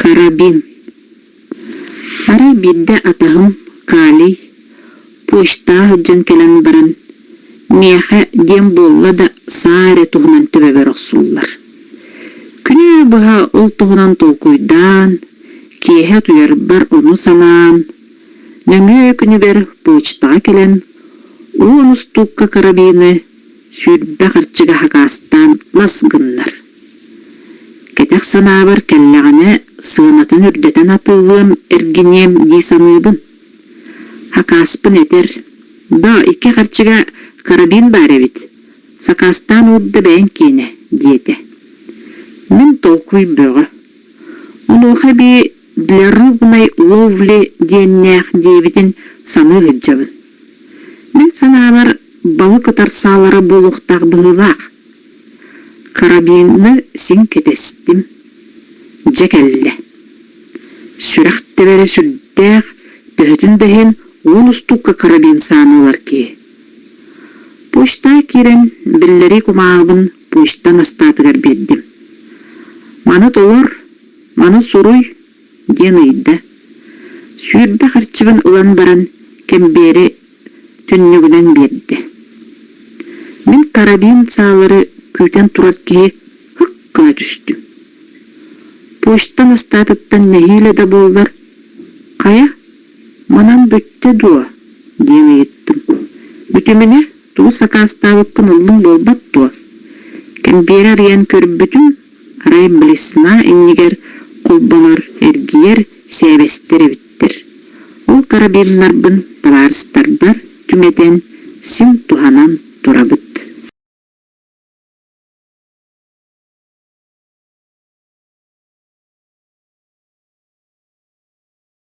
Карабин. Арай биирдэ атаһым Калий пуштаах дьон кэлэн баран миэхэ диэн буолла да саа эрэ туһунан төбөбөр охсуллар Күнү быһа ол туһунан толкуйдаан, киэһэ утуйарбар ону санаан, нөҥүө күнүбэр почтаҕа кэлэн, уу устуукка карабины сүүрбэ харчыга хакаастаан лас гыннар. Кэтэх санаабар кэллэҕинэ сыанатын үрдэтэн атыылыам, эргиниэм дии саныыбын. Хакааспын этэр: «Доо, икки харчыга карабин баар эбит, Сакаастаан ылда бэйэҥ киэнэ, диэтэ. Мин толкуй бөҕө. Онуоха эбии «Дворюбный ловли» диэннээх диэбитин саныы сылдьабын. Мин санаабар, балык ытарсаалара буолуохтаах быһыылаах. Карабины син кэтэстим. Дьэ кэллэ. Сүрэх тэбэрэ сүрдээх, төһөтүн да иһин, уон устукка карабин сааны ылар киһи. Почтаҕа киирэн биллэрии кумааҕыбын почта настаатыгар биэрдим. Маны толор, маны суруй диэн ыйда. Сүүрбэ харчыбын ылан баран кэмбиэри түннүгүнэн биэрдэ. Мин карабин саалары күүтэн турар киһи һык гына түстүм. Почта настаатыттан нэһиилэ да буоллар, хайа Манан бүттэ дуо? диэн ыйыттым. Бүтүмүнэ тугу сакаастаабыппын ыллым буолбат дуо? Кэмпиэрэ арыйан көрбүтүм, арай блесна иннигэр холбонор эргийэр сээбэстэр эбиттэр. Ол карабиннарбын табаарыстарбар түҥэтэн, син туһанан турабыт.